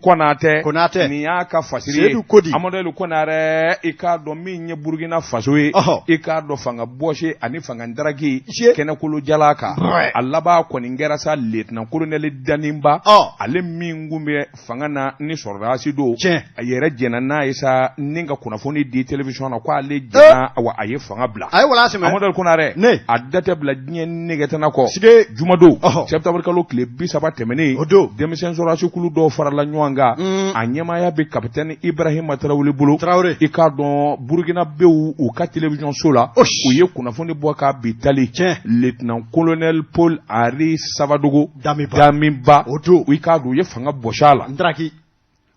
Konatɛ Konatɛ nin y'a ka fasiri ye Sedu Kodi Amadu Konarɛ i k'a dɔn min ye Burukina faso ye ɔhɔ i k'a dɔn fanga bɔsi ani fanga daraki kɛnɛkolo jalan kan a laban kɔni kɛra sa lieutenant colonel Damiba ɔ ale min tun bɛ fanga na ni sɔrɔdasi don tiɲɛ a yɛrɛ jɛnna n'a ye sa ni ka kunnafoni di television na k'ale jɛnna wa a ye fanga bila a ye wala sɛmɛ Amadu Konare ne a da tɛ bila diɲɛ negetana kɔ sike jumadon septembre kalo tile bi saba tɛmɛnen o don denmisɛn sɔrɔdasi kulu dɔw farala ɲɔgɔn kan mm. a ɲɛmaaya bɛ kapitɛni Ibrahima Tarawele bolo Tarawele i k'a dɔn burukinabew u ka télévision so la u ye kunnafoni bɔ ka bi tali tiɲɛ lieutenant colonel Paul Henri Savadogo Damiba Damiba o don i k'a dɔn u ye fanga bɔsi a la ndaraki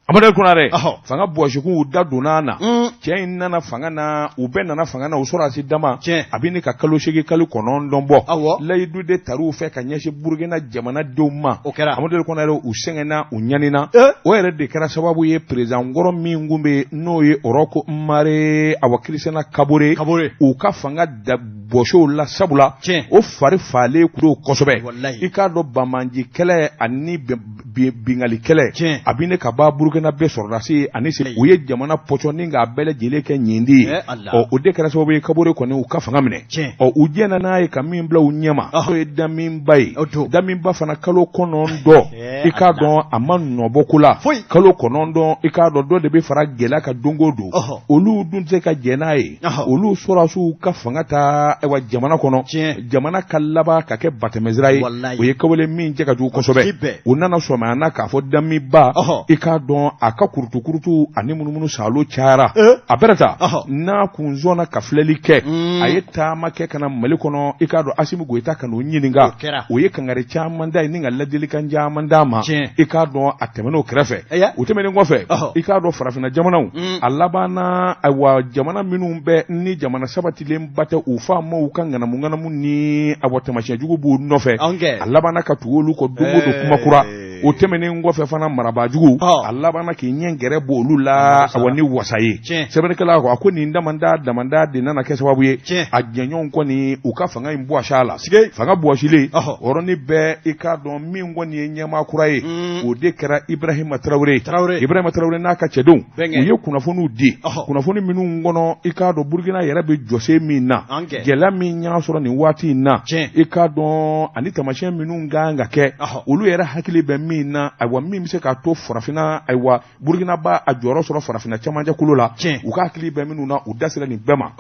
Amadu Konare, ɔhɔ, fanga bɔsikun u da donna a na, un, cɛ in nana fanga na, u bɛɛ nana fanga na, u sɔrɔdasi dama, tiɲɛ, a bɛ ɲini ka kalo seegin kalo kɔnɔntɔn bɔ, awɔ, layidu de tar'u fɛ ka ɲɛsin Burukina jamanadenw ma, o kɛra, Amadu Konare u sɛgɛnna, u ɲanina, ee, o yɛrɛ de kɛra sababu ye perezan kɔrɔ min tun bɛ yen, n'o ye Ɔrɔko Mare Awa Kirisina Kabore, Kabore, u ka fanga da bɔsi o la sabula, tiɲɛ, o fari falen tun don kosɛbɛ, walayi, i k'a dɔn banbaanci kɛlɛ ani bɛn binkanni kɛlɛ a bɛ ɲini ka ba burukina bɛɛ sɔrɔdasi ani sera u ye jamana pɔsɔni k'a bɛɛ lajɛlen kɛ nin di ye ɔ o de kɛra sababu ye kabore kɔni u ka fanga minɛ ɔ u jɛnna n'a ye ka min bila u ɲɛma o ye damiba ye damiba fana kalo kɔnɔntɔn i k'a dɔn a ma nɔ bɔ ko la foyi kalo kɔnɔntɔn i k'a dɔn dɔ de bɛ fara gɛlɛya kan don o don olu dun tɛ se ka jɛn n'a ye olu sɔrɔdasiw ka fanga ta jamana kɔnɔ jamana ka laban ka kɛ batɛmɛsira ye Walayi. o ye kɛwale min cɛ ka jugu kosɛbɛ tɛ bɛn. u nana sɔmi a na k'a fɔ damiba Ɔhɔ. i k'a dɔn a ka kurutukurutu ani munumunu salo cayara Eh. a bɛrɛ ta Ɔhɔ. n'a kun sɔnna ka filɛli kɛ Mm. a ye taama kɛ ka na mali kɔnɔ i k'a dɔn asimi goyita ka n'o ɲininka O kɛra. o ye kangari caman d'a ye ni ka laadilikan caman d'a ma Tiɲɛ. i k'a dɔn a tɛmɛn'o kɛrɛfɛ Aya. o tɛmɛnen kɔfɛ Ɔhɔ. i k'a dɔn farafinna jamanaw Mm. a labanna ayiwa jamana minnu bɛ ni jamana sabatilen ba tɛ u faamaw ka ŋanamuŋanamu ni ayiwa taamasiyɛn jugu b'u nɔfɛ a labanna ka tugu olu kɔ don o don kuma kura o tɛmɛnen kɔfɛ fana marabaajugu a labanna k'i ɲɛ gɛrɛ bɔ olu la a ni wasa ye sɛbɛnnikɛla ko a ko nin damadama de nana kɛ sababu ye a jɛɲɔgɔnw kɔni u ka fanga in bɔsi a la fanga bɔsilen yɔrɔnin bɛɛ i k'a dɔn min kɔni ye ɲɛmaa kura ye o de kɛra ibrahima tarawele tarawele ibrahima tarawele n'a ka cɛdenw u ye kunnafoniw di kunnafoni minnu kɔnɔ i k'a dɔn burukina yɛrɛ bɛ jɔsen min na gɛlɛya min y'a sɔrɔ nin waati in na i k'a dɔn ani taamasiyɛn minnu kan ka kɛ olu yɛrɛ hakili bɛ min na ayiwa min bɛ se k'a to farafinna ayiwa burukina b'a jɔyɔrɔ sɔrɔ farafinna cɛmancɛkolo la u ka hakili bɛ minnu na u da sera nin bɛɛ ma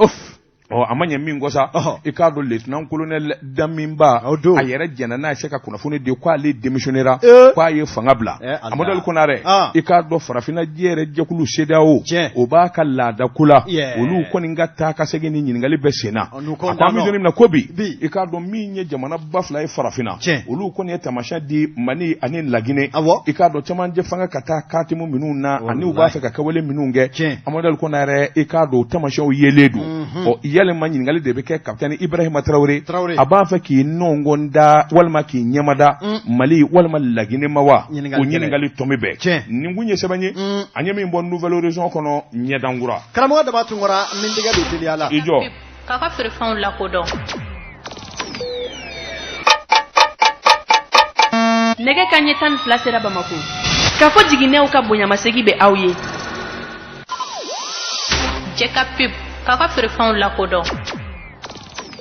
Ɔ a ma ɲɛ min kɔ sa i k'a dɔn lieutenant colonel Damiba a yɛrɛ jɛnna n'a ye se ka kunnafoni di k'ale démissionnera k'a ye fanga bila Amadu El Konare i k'a dɔn farafinna diɲɛ yɛrɛ jɛkulu CEDEAO o b'a ka laadako la olu kɔni ka taa ka segin ni ɲininkali bɛ sen na a ko an bɛ don min na ko bi i k'a dɔn min ye jamana ba fila ye farafinna tiɲɛ olu kɔni ye taamasiyɛn di mali ani laginɛ awɔ i k'a dɔn camancɛ fanga ka taa katimu minnu na ani u b'a fɛ ka kɛwale minnu kɛ tiɲɛ Amadu El Konare i k'a dɔn taamasiyɛnw yelen don mhm. ɔ yalima ɲininkali de bɛ kɛ kapitɛni ibrahima tarawele a b'a fɛ k'i nɔngɔn da walima k'i ɲɛmada mm. mali walima laginɛ ma wa o ɲininkali tomi bɛ tiɲɛ nin kun ye sɛbɛn ye mm. an ye min bɔ Nouvel Horizon kɔnɔ ɲɛdankura karamɔgɔ daba tunkara ni tɛgɛ don teliya la i jɔ K'a ka feerefɛnw lakodɔn. Nɛgɛ ka ɲɛ tan ni fila sera Bamakɔ. Kafo Jiginɛw ka bonyamasegin bɛ aw ye. Jɛ ka pep, k'a ka feerefɛnw lakodɔn.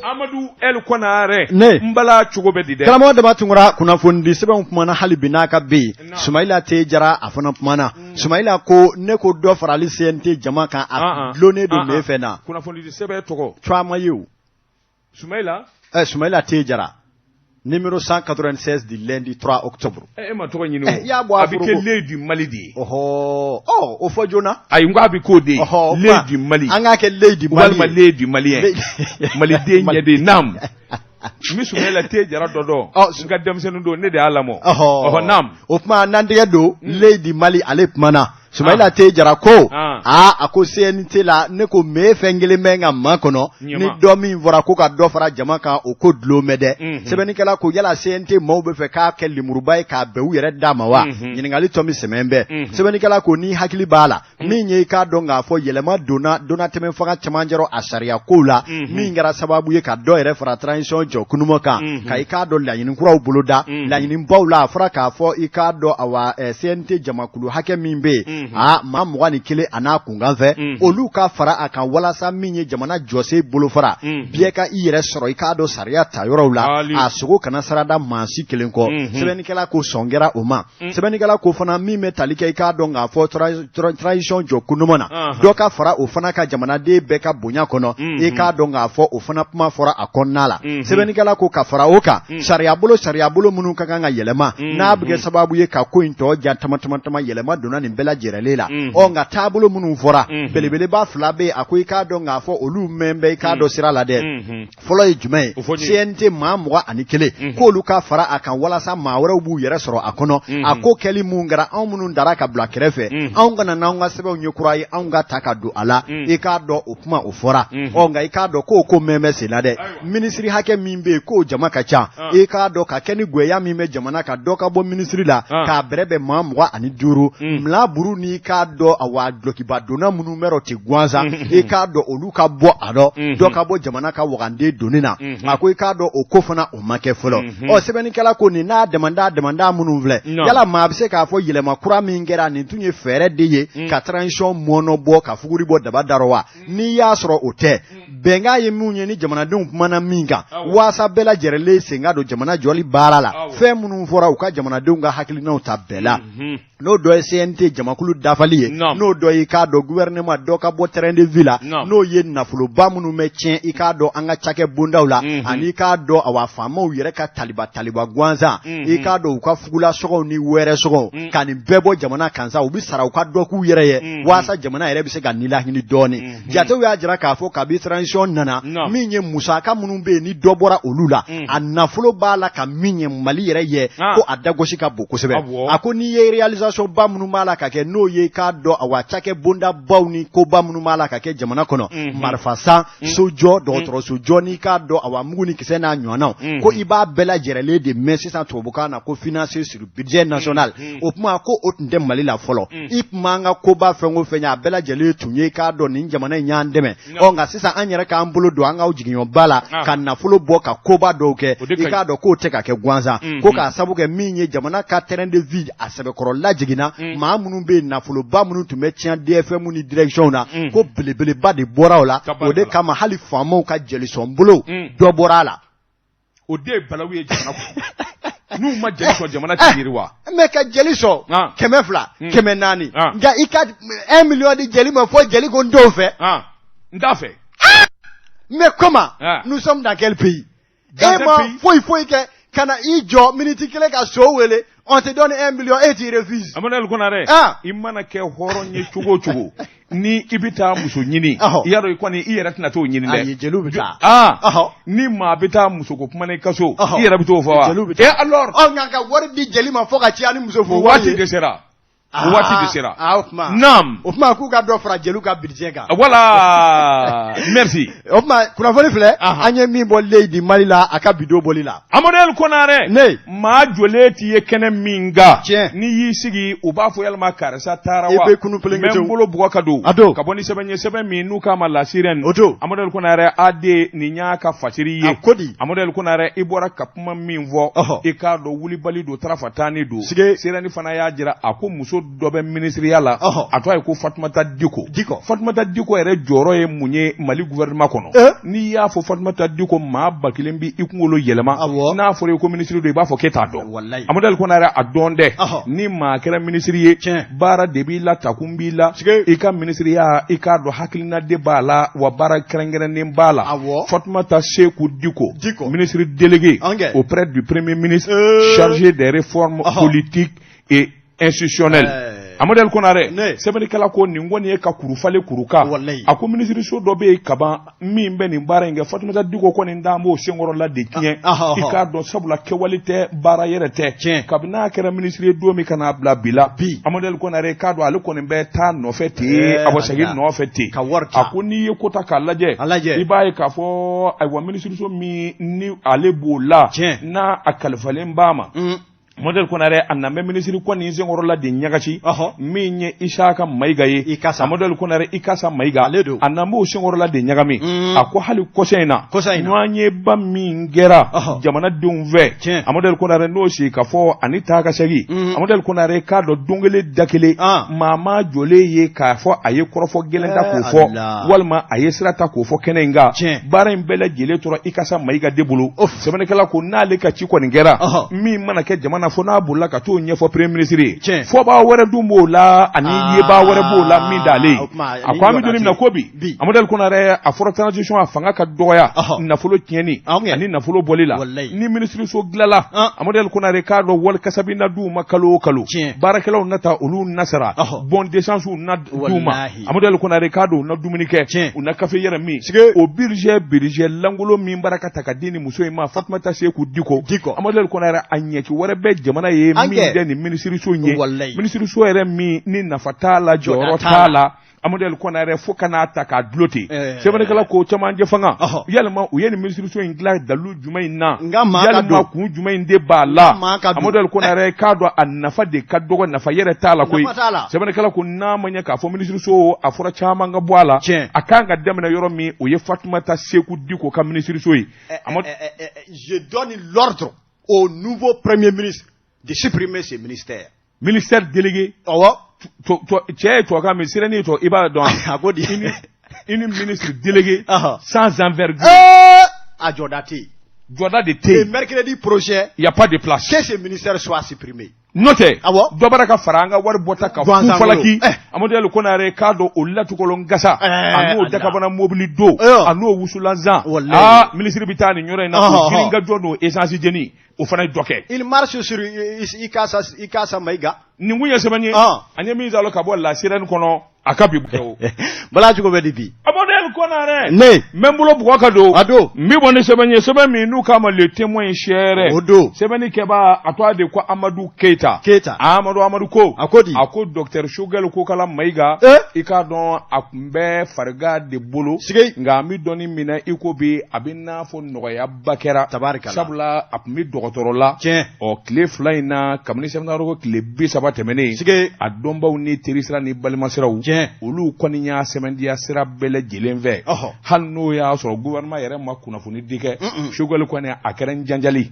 Amadu El Konare ne n bala cogo bɛ di dɛ karamɔgɔ Daba Tunkara kunnafonidi sɛbɛnw kumana hali bi n'a ka bɛ yen Sumayila T Jara a fana kumana Sumaila ko ne ko dɔ farali CNT jama kan a dulonnen don ne fɛ na tɔgɔ jumɛn ye o Sumayila T Jara numéro cent quatre-vingt-seize du lundi trois octobre e ma tɔgɔ ɲini y'a bɔ a bɛ kɛ L'œil du Mali de ye ɔɔ o fɔ joona a ko a bɛ k'o de ye L'œil du Mali an k'a kɛ L'œil du Mali L'œil du Malien maliden ɲɛ de ye naamu N bɛ Sumayila T Jara dɔ dɔn n ka denmisɛnnin don ne de y'a lamɔ o tuma na an tɛgɛ don L'œil du Mali ale kumana Sumayila T Jara ko aa a ko CNT la ne ko mɛ fɛn kelen bɛ ka makɔnɔ ni dɔ min fɔra ko ka dɔ fara jama kan o ko dulon bɛ dɛ sɛbɛnnikɛla ko yala CNT maaw bɛ fɛ k'a kɛ lemuruba ye k'a bɛn u yɛrɛ da ma wa ɲininkali tomi sɛmɛnen bɛ sɛbɛnnikɛla ko ni hakili b'a la Mm. min ye i k'a dɔn k'a fɔ yɛlɛma donna donna tɛmɛ fanga cɛmancɛrɔ a sariya kow la mm-hmm. min kɛra sababu ye ka dɔ yɛrɛ fara transition jɔ kunuma kan mm-hmm. ka i k'a dɔn laɲini kuraw boloda mm-hmm. laɲini baw la a fɔra k'a fɔ i k'a dɔn awa eh, CNT jamakulu hakɛ min bɛ yen a maa mugan ni kelen a n'a kunkan fɛ olu ka fara a kan walasa min ye jamana jɔsen bolofara biyɛ ka i yɛrɛ sɔrɔ i k'a dɔn sariya ta yɔrɔw la a sogo kana sarada maa si kelen kɔ sɛbɛnnikɛla ko sɔn kɛra o ma sɛbɛnnikɛla ko fana min bɛ tali kɛ i k'a dɔn k'a fɔ transition jɔ ko ɲuman na dɔ ka fara o fana kan jamanaden bɛɛ ka bonya kɔnɔ i k'a dɔn k'a fɔ o fana kuma fɔra a kɔnɔna la sɛbɛnnikɛla ko ka fara o kan sariyabolo sariyabolo minnu ka kan ka yɛlɛma n'a bɛ kɛ sababu ye ka ko in tɔ ja tama tama tama yɛlɛma donna nin bɛɛ lajɛrɛlen la ɔ nka taabolo minnu fɔra belebeleba fila bɛ yen a ko i k'a dɔn k'a fɔ olu mɛn bɛ i k'a dɔn sira la dɛ fɔlɔ ye jumɛn ye CNT maa mugan ani kelen mhm. k'olu ka fara a kan walasa maa wɛrɛw b'u yɛrɛ sɔrɔ a kɔnɔ mhm. a ko kɛli min kɛra anw minnu dara ka bila kɛrɛfɛ mhm. anw kana n'anw ka sɛbɛnw ye kura ye anw ka ta ka don a la i k'a dɔn o kuma o fɔra ɔ nka i k'a dɔn k'o ko min bɛ sen na dɛ minisiri hakɛ min bɛ yen k'o jama ka ca ah. i k'a dɔn ka kɛ ni gɛlɛya min bɛ jamana kan dɔ ka bɔ minisiri la ah. k'a bɛrɛ bɛn maa mugan ani duuru mila buru n'i k'a dɔn awa dulɔkiba donna minnu bɛ rɔ ten gansan i k'a dɔn olu ka bɔ a dɔ ka bɔ jamana ka wagande doni na a ko i k'a dɔn o ko fana o ma kɛ fɔlɔ ɔ sɛbɛnnikɛla ko nin n'a dama da minnu filɛ yala maa bɛ se k'a fɔ yɛlɛma kura min kɛra nin tun ye fɛɛrɛ de ye ka transition mɔɔnɔ bɔ ka fuguri bɔ daba da wa n'i y'a sɔrɔ o tɛ bɛnkan ye min ye ni jamanadenw tun bɛnna min kan waasa bɛɛ lajɛrelen sen ka don jamana jɔli baara la fɛn minnu fɔra u ka jamanadenw ka hakilinaw ta bɛɛ la n'o dɔ ye CNT jamakulu dafali ye n'o dɔ ye i k'a dɔn gouvernement dɔ ka bɔ train de vie la n'o ye nafoloba minnu bɛ tiɲɛ i k'a dɔn an ka cakɛ bondaw la mhm. ani i k'a dɔn awa faamaw yɛrɛ ka taliba taliba gansan mhm. i k'a dɔn u ka fugulasɔngɔw ni wɛrɛ sɔngɔw mhm. ka nin bɛɛ bɔ jamana kan sa u bɛ sara u ka dɔ k'u yɛrɛ ye walasa jamana yɛrɛ bɛ se ka nilakili dɔɔnin jatew y'a jira k'a fɔ kabi transition nana Naam. min ye musaka minnu bɛ yen ni dɔ bɔra olu la Mhm. a nafolo b'a la ka min ɲɛ mali yɛrɛ ye Ah. ko a dagosi ka bon kosɛbɛ Awɔ. a ko n'i ye réalisation ba minnu b'a la ka kɛ n'o ye i k'a dɔn awa cakɛ bonda baw ni koba minnu b'a la ka kɛ jamana kɔnɔ Mhm. marifa san sojɔ dɔgɔtɔrɔsojɔ n'i k'a dɔn awa mugu ni kisɛ n'a ɲɔgɔnnaw Mhm. ko i b'a bɛɛ lajɛrelen de mɛn sisan tubabukan na ko financé sur budget national o kuma ko o tun tɛ mali la fɔlɔ i komi an ka koba fɛn o fɛn a bɛɛ lajɛlen tun ye i k'a dɔn nin jamana in y'an dɛmɛ nka sisan an yɛrɛ k'an bolo don an ka jigiɲɛba la ka nafolo bɔ ka koba dɔw kɛ i k'a dɔn k'o tɛ ka kɛ gansan ko k'a sabu kɛ min ye jamana ka train de vie a sɛbɛkɔrɔ lajiginna maa minnu bɛ nafoloba minnu tun bɛ tiɲɛ DFMw ni directionw na ko belebeleba de bɔra o la o de kama hali faamaw ka jelisɔnbolo dɔ bɔra a la o de ye balawu ye jamana kɔnɔ n'u ma jeli sɔn jamana tɛ yiriwa eh, mais ka jeli sɔn ah. kɛmɛ fila hmm. kɛmɛ naani ah. nka i ka un million di jeli ma fo jeli ko n t'o fɛ ah. n t'a fɛ mais comment nous sommes dans quel pays e ma foyi foyi kɛ ka na i jɔ miniti kelen ka so wele on te donne un million et tu refuses Emmanuel Konare ah. i mana kɛ hɔrɔn ye cogo o cogo ni i bɛ taa muso ɲini yɔrɔ i kɔni i yɛrɛ tɛna t'o ɲini dɛ ayi jeliw bɛ taa aa ah. ni maa bɛ taa muso ko kuma na i ka so i yɛrɛ bɛ t'o fɔ wa jeliw bɛ taa et alors ɔ nka ka wari di jeli ma fo ka caya ni muso furu wari ye o waati dɛsɛra Aa, o waati de sera aa, o tuma naam o tuma k'u ka dɔ fara jeliw ka budget kan voilà merci o tuma kunnafoni filɛ Aha. an ye min bɔ leyi bi mali la a ka bi don bɔli la amadel konare ne maa jɔlen t'i ye kɛnɛ min kan Tiɲɛ. n'i y'i sigi u b'a fɔ yalima karisa taara I wa bɛ kunu pelenge N bɛ tew. n bolo bugɔ ka don A don. ka bɔ ni sɛbɛn ye sɛbɛn min n'u k'a ma La Sirène O don. amadel konare ad nin y'a ka fasiri ye A ko di? amadel konare i bɔra ka kuma min fɔ i k'a dɔn wulibali don tarafa tan ni don Sirène fana y'a jira a ko muso dɔ bɛ minisiriya la a tɔgɔ ye ko fatumata diko diko fatumata diko yɛrɛ jɔyɔrɔ ye mun ye mali gouvernement kɔnɔ eh? n'i y'a fɔ fatumata diko maa ba kelen bɛ i kunkolo yɛlɛma n'a fɔra i ko minisiri don i b'a fɔ k'e t'a dɔn amadel konare a dɔn dɛ ni maa kɛra minisiri ye baara de b'i la takun b'i la i ka minisiriya i k'a dɔn hakilina de b'a la wa baara kɛrɛnkɛrɛnnen b'a la fatumata seku diko ministre délégué auprès du premier ministre euh. chargé des réformes politiques et institutionnelles euh. Amadu Konare sɛbɛnnikɛla ko nin kɔni ye ka kurufale kuruka a ko minisiriso dɔ bɛ yen kaban min bɛ nin baara in kɛ fatumata diko kɔni dan b'o senkɔrɔla de tiɲɛ ah, ah, ah, i k'a dɔn sabula kɛwale tɛ baara yɛrɛ tɛ tiɲɛ kabini n'a kɛra minisiri ye don min ka n'a bila bi la bi amadel konare k'a dɔn ale kɔni bɛ taa nɔfɛ ten eh, a bɛ segin nɔfɛ ten ka wari a ko n'i ye ko ta k'a lajɛ a lajɛ i b'a ye k'a fɔ ayiwa minisiriso min ni ale b'o la tiɲɛ n'a a kalifalen b'a ma mm. Amadel konare a na bɛ minisiri kɔni senkɔrɔla de ɲagami min ye Isaka Mayiga ye Ikasa amadel konare Ikasa Mayiga ale don a na b'o senkɔrɔla de ɲagami a ko hali kɔsa in na kɔsa in ɲɔgɔnyeba min kɛra jamanadenw fɛ tiɲɛ amadel konare n'o sigikafɔ ani taa ka segin amadel konare k'a dɔn don kelen da kelen maa m'a jɔlen ye k'a fɔ a ye kɔrɔfɔ gɛlɛn ta k'o fɔ walima a ye sira ta k'o fɔ kɛnɛ in kan tiɲɛ baara in bɛɛ lajɛlen tora Ikasa Mayiga de bolo o sɛbɛnnikɛla ko n'ale ka ci i kɔni kɛra min mana kɛ jamana fo n'a bolila ka t'o ɲɛfɔ premier ministre ye fɔbaa wɛrɛ dun b'o la ani ah, yebaa wɛrɛ b'o la min t'ale ye a ko an bɛ don min na ko bi amadel konare a fɔra transition a fanga ka dɔgɔya nafolo tiɲɛni ani nafolo bɔli la ni minisiriso dilanla amadel konare k'a dɔn wari kasabi na d'u ma kalo o kalo baarakɛlaw na ta olu na sara bon d'essence na d'u ma Amadu Konare k'a dɔn u na dumuni kɛ tiɲɛ u na kafe yɛrɛ min sike o budget budget lankolon min bara ka ta ka di nin muso in ma Fatumata Seku Diko Diko Amadu Konare a ɲɛci wɛrɛ bɛ jamana ye min tɛ nin minisiriso in ye walayi minisiriso yɛrɛ min ni nafa t'a la jɔyɔrɔ t'a la Amadu Konare fo ka n'a ta k'a dulon ten sɛbɛnnikɛla ko cɛmancɛ fanga yalima u ye nin minisiriso in dilan dalu jumɛn in na nka maa ka yalima dɔn kun jumɛn in de b'a la Maa ka dɔn. Amadu Konare k'a dɔn a nafa de ka dɔgɔ nafa yɛrɛ t'a la koyi Nafa t'a la. sɛbɛnnikɛla ko n'a ma ɲɛ k'a fɔ minisiriso a fɔra caman ka bɔ a la Tiɲɛ. a kan ka daminɛ yɔrɔ min o ye Fatumata Seku Diko ka minisiriso ye Amadu Eh, eh, eh, je donne l'ordre au nouveau premier ministre de supprimer ce ministère Ministère délégué awɔ cɛ ye tubabukan min sɛbɛnni ye tubabu i b'a dɔn a ko di un ministre délégué sans envergure a jɔda tɛ yen jɔda de tɛ yen mercredi prochain il y a pas de place que ce ministère soit supprimé n'o tɛ awɔ dɔ bɔra ka fara an ka wari bɔta kan fu falaki Amadel Konare i k'a dɔn o latukolon gasa a n'o dakabana mobili don a n'o wusulan san aa minisiri bɛ taa nin yɔrɔ in na o girin ka jɔ n'o essence jeni o fana ye dɔ kɛ il marche sur Ikasa Ikasa Maïga nin kun ye sɛbɛn ye an ye min zalo ka bɔ La Sirène kɔnɔ a ka bi bɔ bala cogo bɛ di bi Amadel Konare ne n bɛ n bolo bugɔ ka don a don n bɛ bɔ ni sɛbɛn ye sɛbɛn min n'u k'a ma le témoin ye seere o don sɛbɛnni kɛbaa a tɔgɔ de ko Amadu Keyita Keyita Amadu Amadu ko a ko di a ko docteur Choguel Kokala Mayiga i k'a dɔn a kun bɛ farigan de bolo sikeyi nka an bɛ don min na i ko bi a bɛ n'a fɔ nɔgɔya ba kɛra tari sabula a tun bɛ dɔgɔtɔrɔ la tiɲɛ ɔ tile fila in na kabini sɛbɛnnikɛla ko tile bi saba tɛmɛnen sigi a dɔnbaw ni terisira ni balimasiraw tiɲɛ olu kɔni y'a sɛmɛntiya sira bɛɛ lajɛlen fɛ hali n'o y'a sɔrɔ gouvernement yɛrɛ ma kunnafoni di kɛ Choguel kɔni a kɛra janjali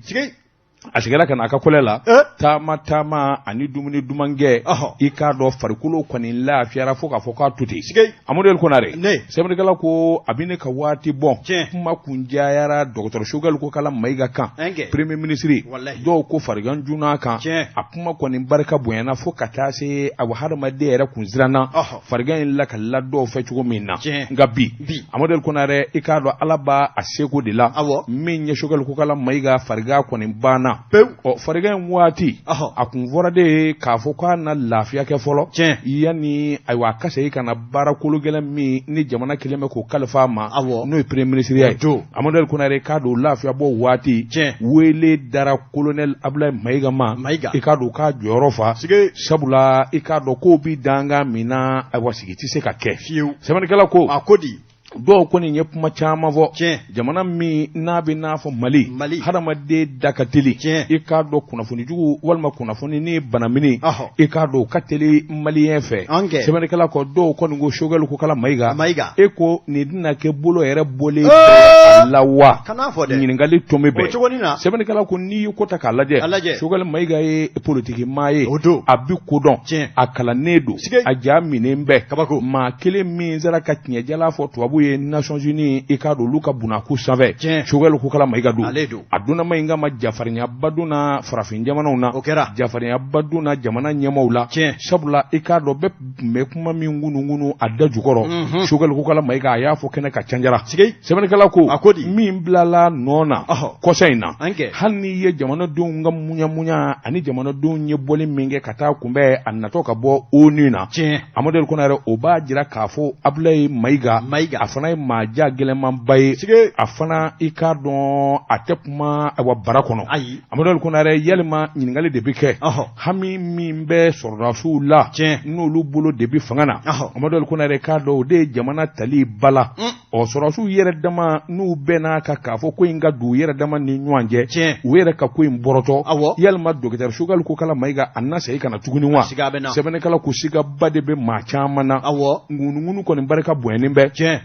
a seginna ka na a ka kɔlɛ la eh? taama taama ani dumuni duman kɛ i k'a dɔn farikolo kɔni lafiyara fo k'a fɔ k'a to ten Amadel Konare sɛbɛnnikɛla ko a bɛ ne ka waati bɔ kuma kun cayara dɔgɔtɔrɔ Choguel Kokala Mayiga kan premier minisiri dɔw ko farigan junna a kan a kuma kɔni barika bonyana fo ka taa se a hadamaden yɛrɛ kun siranna farigan in lakalila dɔw fɛ cogo min na Tiɲɛ. nka bi Bi. amadel konare i k'a dɔn ala b'a a seko de la Awɔ. min ye Choguel Kokala Mayiga farigan kɔni banna Pewu. ɔ farigan in waati Ɔhɔ. a kun fɔra de ye k'a fɔ k'a na lafiya kɛ fɔlɔ Tiɲɛ. yanni ayiwa a ka segin ka na baara kolo gɛlɛn min ni jamana kelen bɛ k'o kalifa a ma Awɔ. n'o ye premier ministre ya ye O don. amadel konare i k'a dɔn lafiyabɔ waati Tiɲɛ. wele dara kolonɛli Abdoulaye Mayiga ma mayiga i k'a dɔn k'a jɔyɔrɔ fa sabula i k'a dɔn k'o bi danga min na ayiwa sigi tɛ se ka kɛ fiyewu sɛbɛnnikɛla ko a ko di dɔw kɔni ye kuma caman fɔ tiɲɛ jamana min n'a bɛ n'a fɔ mali mali hadamaden da ka teli tiɲɛ i k'a dɔn kunnafoni jugu walima kunnafoni ni banamini i k'a dɔn ka teli maliyɛn fɛ sɛbɛnnikɛla ko dɔw kɔni ko Choguel Kokala Mayiga mayiga e ko nin na kɛ bolo yɛrɛ bɔlen bɛɛ la wa? Kan'a fɔ dɛ, ɲininkali tomi bɛ, o cogonin na, sɛbɛnnikɛla ko n'i ye ko ta k'a lajɛ, a lajɛ, Choguel Mayiga ye politiki maa ye, o don, a bɛ ko dɔn, tiɲɛ, a kalannen don, siga, a ja minen bɛ, kabako, maa kelen min sera ka tiɲɛjalan fɔ tubabu ye Nations Unies i k'a dɔn olu ka bunakun sanfɛ, tiɲɛ, Choguel Kokala Mayiga don, ale don, a donna Mayiga ma jafarinyaba donna farafin jamanaw na, o kɛra, jafarinyaba donna jamana ɲɛmaaw la, tiɲɛ, sabula i k'a dɔn bɛɛ tun bɛ kuma min ŋunuŋunu a da jukɔrɔ mhm. Choguel Kokala Mayiga a y'a fɔ kɛnɛ kan cajara sɛbɛnnikɛla ko a ko di min bilala nɔ na kɔsa in na hali n'i ye jamanadenw ka muɲamuɲa ani jamanadenw ye bɔli min kɛ ka taa kunbɛn a natɔ ka bɔ ONU na amadu ali konare o b'a jira k'a fɔ abilayi mayiga a fana ye maa ja gɛlɛnmanba ye a fana i k'a dɔn a tɛ kuma wa bara kɔnɔ amadu ali konare yalima ɲininkali de bɛ kɛ hami min bɛ sɔrɔdasiw la tiɲɛ n'olu bolo de bɛ fanga na amadu ali konare k'a dɔn o de ye jamana tali bala mm. ɔ sɔrɔdasiw yɛrɛ dama n'u bɛnn'a kan k'a fɔ ko in ka don u yɛrɛ dama ni ɲɔgɔn cɛ tiɲɛ u yɛrɛ ka ko in bɔrɔtɔ awɔ yalima docteur Choguel Kokala Mayiga a na segin ka na tuguni wa siga bɛ na sɛbɛnnikɛla ko sigaba de bɛ maa caman na awɔ ŋunuŋunu kɔni barika bonyalen bɛ tiɲɛ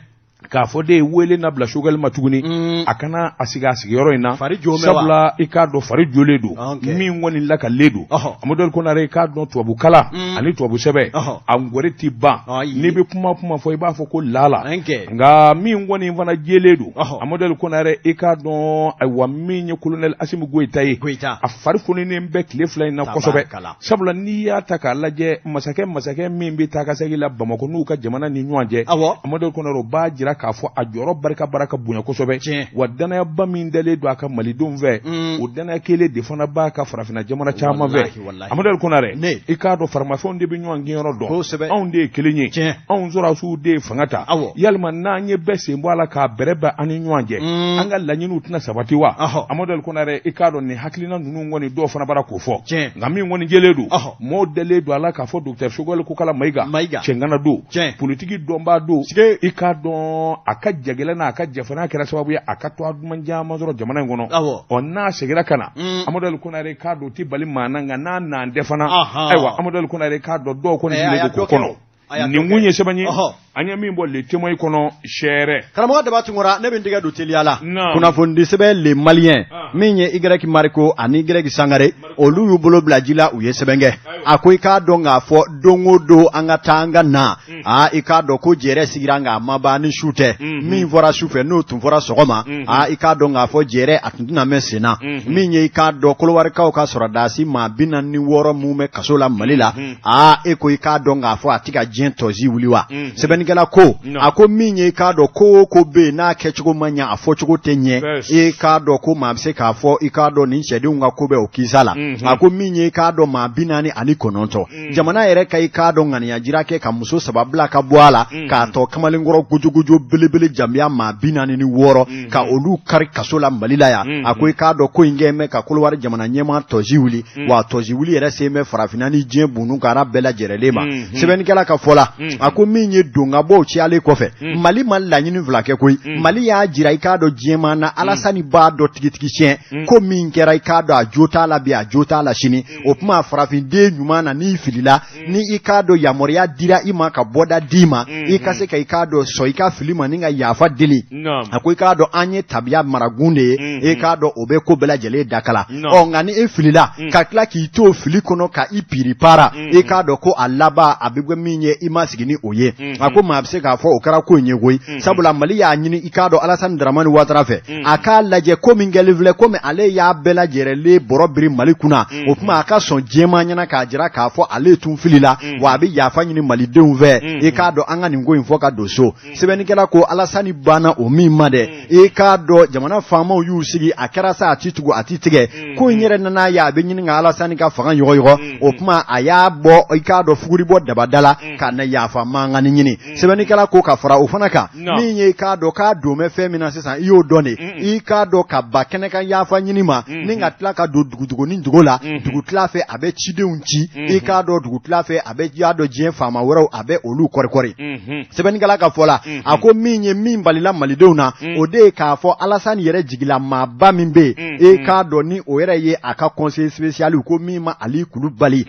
k'a fɔ de wele na bila Choguel ma tuguni mm. a ka na a sigi a sigiyɔrɔ in na sabula i k'a dɔn fari jolen don ah, min kɔni lakalen don amadu ali konare i k'a dɔn tubabu kala mm. ani tubabu sɛbɛn a ngɔri ti ban n'i bɛ kuma kuma fɔ i b'a fɔ ko lala nka min kɔni fana jɛlen don amadu ali konare i k'a dɔn ayiwa min ye kolonɛli asimi goyita ye a fari fununen bɛ tile fila in na kosɛbɛ sabula n'i y'a ta k'a lajɛ masakɛ masakɛ min bɛ taakasegin la bamakɔ n'u ka jamana ni ɲɔgɔn cɛ amadu konare o b'a jira k'a fɔ a jɔyɔrɔ barika bara ka bonya kosɛbɛ wa dannayaba min dalen don a kan malidenw fɛ mm. o dannaya kelen de fana b'a kan farafinna jamana caman fɛ amadu konare i k'a dɔn faramafɛnw de bɛ ɲɔgɔn kinyɔrɔ dɔn anw de ye kelen ye anw sɔrɔdasiw de ye fanga ta yalima n'an ye bɛɛ sen bɔ a la k'a bɛrɛ bɛn an ni ɲɔgɔn cɛ mm. an ka laɲiniw tɛna sabati wa amadu konare i k'a dɔn nin hakilina minnu kɔni dɔw fana bara k'o fɔ Tiɲɛ. nka min kɔni jɛlen don Ɔhɔ. mɔɔw dalen don a la k'a fɔ docteur Choguel Kokala Mayiga Mayiga. cɛŋana don Tiɲɛ. politiki dɔnbaa don Sike. i k'a dɔn a ka jagɛlɛn n'a ka jafana kɛra sababu ye a ka tɔɔ duman caman sɔrɔ jamana in kɔnɔ Awɔ. ɔ n'a segira ka na Mm. Amadu Ali Konare k'a dɔn o tɛ bali maa na nka n'a naan tɛ fana Ahan. ayiwa Amadu Ali Konare k'a dɔn dɔw kɔni Ɛ, a sigilen y'a don k'o dɔ kɛ kɔnɔ o. nin kun ye sɛbɛn ye an ye min bɔ le témoin kɔnɔ sɛɛrɛ karamɔgɔ daba tunkara ne bɛ n tɛgɛ don teliya la kunnafonidi sɛbɛn le malien ah. min ye y mariko ani y sangare olu y'u bolo bila ji la u ye sɛbɛn kɛ a ko i k'a dɔn k'a fɔ don o don an ka taa an ka na hmm. aa i k'a dɔn ko jɛrɛ sigira nka a ma ban ni su tɛ hmm. min fɔra su fɛ n'o tun fɔra sɔgɔma hmm. aa i k'a dɔn k'a fɔ jɛrɛ a tun tɛna mɛn sen na min ye i k'a dɔn kolowarikaw ka sɔrɔdasi maa bi naani ni wɔɔrɔ minnu bɛ kaso la mali la aa e ko i k'a dɔn k'a fɔ a tɛ ka diɲɛ tɔzi wuli wa Mhm. sɛbɛnnikɛla ko Non. a ko min ye i k'a dɔn ko o ko bɛ yen n'a kɛcogo ma ɲɛ a fɔcogo tɛ ɲɛ Yes. i k'a dɔn ko maa bɛ se k'a fɔ i k'a dɔn nin cɛdenw ka ko bɛ o kisa la Mhm. a ko min ye i k'a dɔn maa bi naani ani kɔnɔntɔn Mhm. jamana yɛrɛ ka i k'a dɔn ŋaniyajira kɛ ka muso saba bila ka bɔ a la Mhm. k'a tɔ kamalenkɔrɔ gojogojo belebele jambiya maa bi naani ni wɔɔrɔ ka olu kari kaso la mali la yan a ko i k'a dɔn ko in kɛ mɛn ka kolowari jamana ɲɛmaa tɔnsi wuli wa a tɔnsi wuli yɛrɛ sen bɛ farafinna ni diɲɛ bon kara bɛɛ lajɛrɛlen ma sɛbɛnnikɛla ka fɔ la a ko min ye don ka bɔ cayalen kɔfɛ mali ma laɲini fila kɛ koyi mali y'a jira i k'a dɔn diɲɛmaa na alasani b'a dɔn tigitigi tiɲɛ ko min kɛra i k'a dɔn a jo t'a la bi a jo t'a la sini o tuma farafinden ɲuman na n'i filila mm. ni i k'a dɔn yamaruya dira i ma ka bɔda d'i ma mm -hmm. i ka se ka i k'a dɔn sɔn i ka fili ma ni ka yafa deli no. a ko i k'a dɔn an ye tabiya maragun de ye mm -hmm. i k'a dɔn o bɛ ko bɛɛ lajɛlen dakala no. ɔ nka ni e filila mm. ka tila k'i to fili kɔnɔ ka i piripara mm -hmm. i k'a dɔn ko a laban a bɛ kɛ min ye i ma sigi ni o ye mm -hmm. a ko maa bɛ se k'a fɔ o kɛra ko in ye koyi mm -hmm. sabula mali y'a ɲini i k'a dɔn alasani daramani watara fɛ mm -hmm. a k'a lajɛ ko min kɛlen filɛ komi ale y'a bɛɛ lajɛlen bɔrɔ biri mali kunna o kuma a ka sɔn diɲɛmaa ɲɛna k'a jira k'a fɔ ale tun filila wa a bɛ yafa ɲini malidenw fɛ i k'a dɔn an ka nin ko in fɔ ka don so sɛbɛnnikɛla ko alasani banna o min ma dɛ i k'a dɔn jamana faamaw y'u sigi a kɛra sa a ti tugu a ti tigɛ ko in yɛrɛ nana ye a bɛ ɲini ka alasani ka fanga yɔgɔyɔgɔ o kuma a y'a bɔ i k'a dɔn fuguri bɔ dabada la ka na yafa mankanni ɲini sɛbɛnnikɛla ko ka fara o fana kan min ye k'a dɔn k'a don bɛ fɛn min na sisan i y'o dɔn de i k'a dɔn ka ban kɛnɛ kan yafa ɲini ma ni ka tila ka don dogodogoni dugu la dugu tila fɛ a bɛ cidenw ci i k'a dɔn dugu tila fɛ a bɛ y'a dɔn diɲɛ faama wɛrɛw a bɛ olu kɔrikɔri sɛbɛnnikɛla ka fɔ la a ko min ye min balila malidenw na o de ye k'a fɔ alasani yɛrɛ jigila maaba min bɛ yen i k'a dɔn ni o yɛrɛ ye a ka conseiller spécial ko min ma ali kulubali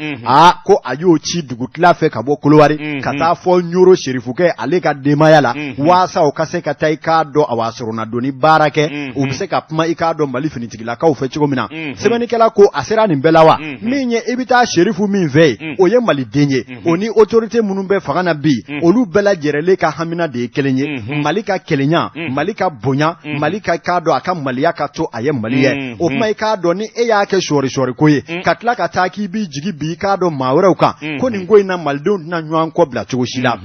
ko a y'o ci dugu tila fɛ ka bɔ kolowari ka taa fɔ ɲoro serifukɛ ale ka denbaya la waasa o ka se ka taa i k'a dɔn awa soronadonni baara kɛ u bɛ se ka kuma i k'a dɔn mali finitigilakaw fɛ cogo min na sɛbɛnnikɛla ko a sera nin bɛɛ la wa min ye i bɛ taa serifu min fɛ yen o ye maliden ye o ni autorité minnu bɛ fanga na bi olu bɛɛ lajɛrɛlen ka hamina de ye kelen ye mali ka kelenya mali ka bonya mali ka k'a dɔn a ka maliya ka to a ye mali ye o kuma i k'a dɔn ni e y'a kɛ sɔɔrisɔɔri ko ye ka tila ka taa k'i b'i jigi bi i k'a dɔn maa wɛrɛw kan ko nin ko in na malidenw tɛna ɲɔgɔn kɔ bila cogo si la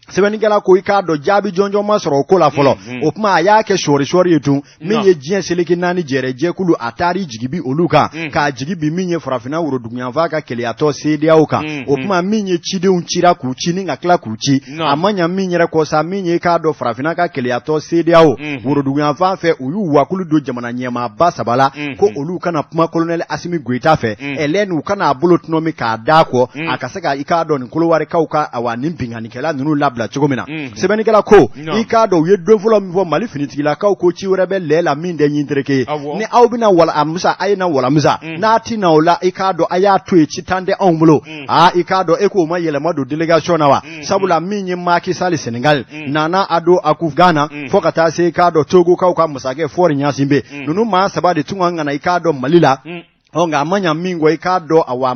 sɛbɛnnikɛla ko i k'a dɔn jaabi jɔnjɔn ma sɔrɔ o ko la fɔlɔ mhm. o kuma a y'a kɛ sɔɔrisɔɔri ye tun min ye diɲɛ seleke naani jɛrɛ jɛkulu a taar'i jigi bi olu kan mhm. k'a jigi bi min ye farafinna woroduguyanfan ka kelenyatɔn seedeyaw kan mhm. o kuma min ye cidenw cira k'u ci ni ka tila k'u ci a ma ɲa min yɛrɛ kɔ sa min ye k'a dɔn farafinna ka kelenyatɔn seedeyaw woroduguyanfan fɛ u y'u wakulu don jamana ɲɛmaaba saba la ko olu ka na kuma kolonɛli asimi goyita fɛ ɛlɛni u ka na a bolo tɔnɔmi k'a da kɔ mm. a ka se ka i k'a dɔn nin kolowarikaw ka awa nin binkannikɛla ninnu labila cogo min na mm. sɛbɛnnikɛla ko no. i k'a dɔn u ye don fɔlɔ min fɔ mali finitigilakaw ko ci wɛrɛ bɛ lɛ la min tɛ ɲin tereke ye ni aw bɛna walamusa a ye na walamusa mm. n'a ti na o la i k'a dɔn a y'a to yen ci tan tɛ anw bolo mm. aa i k'a dɔn e k'o ma yɛlɛma don délégation na wa mm. sabula min ye Macky Sall Senegal mm. Nana Addo Akufo Ghana mm. fo ka taa se i k'a dɔn Togokaw ka masakɛ Faure Gnassingbé mm. ninnu maa saba de tun kan ka na i k'a dɔn Mali la mm. Ɔ nka a ma ɲa min kɔ i k'a dɔn awa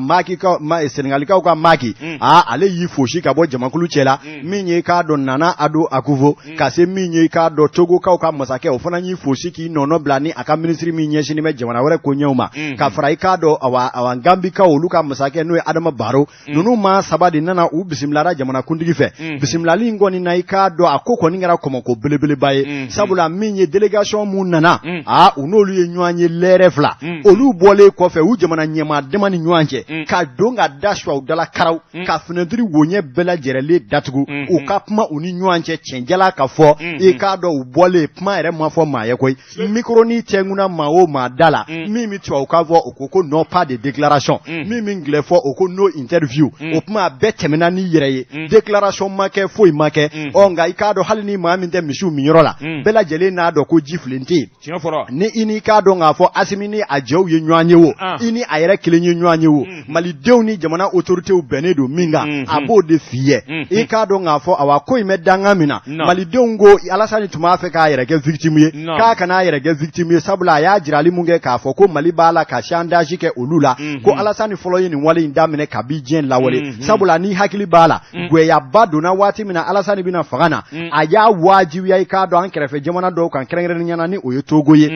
Senegalikaw ka Macky aa ale y'i fosi ka bɔ jamakulu cɛ la min ye i k'a dɔn Nana Addo Akufo ka se min ye i k'a dɔn Togokaw ka masakɛ o fana y'i fosi k'i nɔnabila ni a ka minisiri min ɲɛsinnen bɛ jamana wɛrɛ koɲɛw ma ka fara i k'a dɔn awa Ganbikaw olu ka masakɛ n'o ye Adama Barrow ninnu maa saba de nana u bisimilara jamanakuntigi fɛ bisimilali in kɔni na i k'a dɔn a ko kɔni kɛra kɔmɔko belebeleba ye sabula min ye délégation minnu nana aa u n'olu ye ɲɔgɔn ye lɛrɛ fila olu bɔlen kɔfɛ u jamana ɲɛmaa dama ni ɲɔgɔn cɛ ka don ka da su u dala karaw ka finɛtiri woɲɛ bɛɛ lajɛlen datugu u ka kuma u ni ɲɔgɔn cɛ cɛn jalan ka fɔ i k'a dɔn u bɔlen kuma yɛrɛ ma fɔ maa ye koyi micro in tɛnkuna maa o maa da la mm. min bɛ tubabukan fɔ o ko ko non pas de déclaration mm. min bɛ angilɛ fɔ o ko no interview mm. o tuma a bɛɛ tɛmɛna n'i yɛrɛ ye déclaration ma kɛ foyi ma kɛ ɔ nka i k'a dɔn hali ni maa min tɛ misiw minyɔrɔ la bɛɛ lajɛlen n'a dɔn ko ji filen tɛ yen ni i ni i k'a dɔn k'a fɔ Asimi ni a jɛw ye ɲɔgɔn ye wo ah. i ni a yɛrɛ kelen ye ɲɔgɔn ye wo malidenw ni jamana autoritéw bɛnnen don min kan mhm. a b'o de f'i ye mhm. i k'a dɔn k'a fɔ awa ko in bɛ danga min na malidenw ko Alasani tun b'a fɛ k'a yɛrɛ kɛ victime ye k'a kana a yɛrɛ kɛ victime ye sabula a y'a jirali min kɛ k'a fɔ ko mali b'a la ka chantage kɛ olu la mhm. ko Alasani fɔlɔ ye nin wale in daminɛ kabi diɲɛ lawale sabula n'i hakili b'a la gɛyaba donna waati min na Alasani bɛna fanga na a y'a wajibiya i k'a dɔn an kɛrɛfɛ jamana dɔw kan kɛrɛnkɛrɛnnenya na ni o ye Togo ye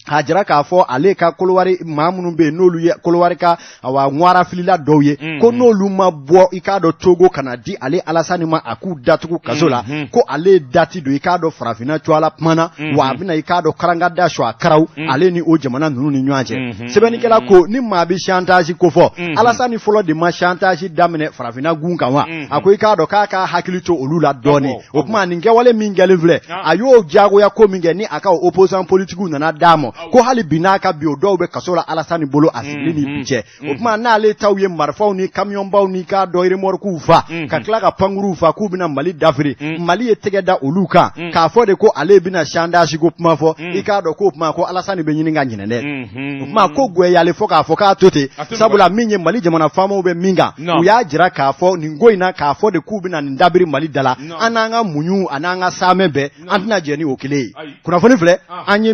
k'a jira k'a fɔ ale ka kolowari maa minnu bɛ yen n'olu ye kolowari ka awa ŋwara filila dɔw ye mm-hmm. ko n'olu ma bɔ i k'a dɔn Togo kana di ale alasani ma a k'u datugu kaso la mm-hmm. ko ale dati don i k'a dɔn farafinna cuala kumana mm-hmm. wa a bɛna i k'a dɔn karanga da su a karaw ale ni o jamana ninnu ni ɲɔgɔn cɛ sɛbɛnnikɛla ko ni maa bɛ chantage ko fɔ alasani fɔlɔ de ma chantage daminɛ farafinna gun kan wa a ko i k'a dɔn k'a ka hakili to olu la dɔɔnin o tuma nin kɛwale min kɛlen filɛ ah. a y'o diyagoya ko min kɛ ni a ka opposant politikiw nana d'a ma ah ko hali bi n'a ka bi o dɔw bɛ kaso la Alassane bolo a sigili ni mm-hmm. bi cɛ o mm-hmm. tuma n'ale taw ye marifaw ni kamiyɔnbaw ni k'a dɔn remɔrikuw fa mm-hmm. ka tila ka pankuruw fa k'u bɛna Mali dafiri mm. Mali ye tɛgɛ da olu kan mm. k'a fɔ de ko ale bɛna chantage ko kuma fɔ mm. i k'a dɔn k'o tuma ko Alassane bɛ ɲini ka ɲinɛ dɛ o tuma ko goyalen fɔ k'a fɔ k'a to ten sabula min ye Mali jamana faamaw bɛ min kan u y'a jira k'a fɔ nin ko in na k'a fɔ de k'u bɛna nin dabiri mali da la an n'an ka muɲu ani an ka saamɛ bɛɛ an tɛna jɛn ni o kelen ye kunnafoni filɛ an ye